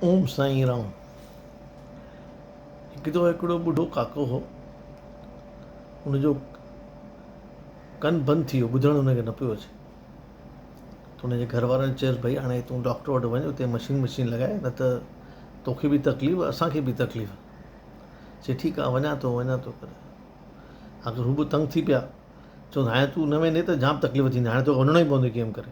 اوم سائين رام هڪ دفعو هڪڙو ٻڍو ڪاڪو هو ان جو ڪن بند ٿي ويو ٻڌڻ ان کي نه پيو اچي ته ان جي گهر وارن چيس ڀئي هاڻي تون ڊاڪٽر وٽ وڃ اتي مشين وشين لڳائي نه ته توکي به تڪليف اسان کي به تڪليف چي ٺيڪ آ وڃان ٿو وڃان ٿو ڪري آخر هو به تنگ ٿي پيا چون هاڻي تون نه ويندي ته جام تڪليف ٿيندي هاڻي توکي وڃڻو ئي پوندو ڪيم ڪري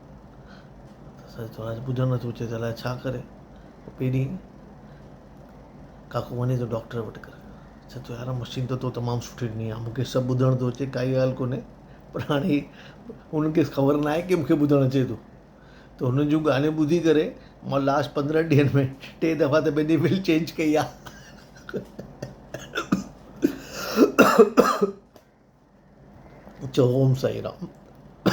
سچ ٻڌڻ ۾ ٿو اچي ته الاء ڇا ڪري پهرين ڪاڪو وڃي ٿو ڊاڪٽر وٽ ڪري چئي ٿو يار مشين ته تو تمام سٺي ڏني آ مونکي سڀ ٻڌڻ ٿو اچي ڪائي ڳالهه ڪونهي پر هاڻي هي هن کيس خبر نه آهي ڪي مونکي ٻڌڻ اچي ٿو ته هن جون ڳالهيون ٻڌي ڪري مون لاسٽ پندرهن ڏينهن ۾ ٽي دفعا ته پنهنجي ويل چينج ڪئي آ چئو اوم سائين رام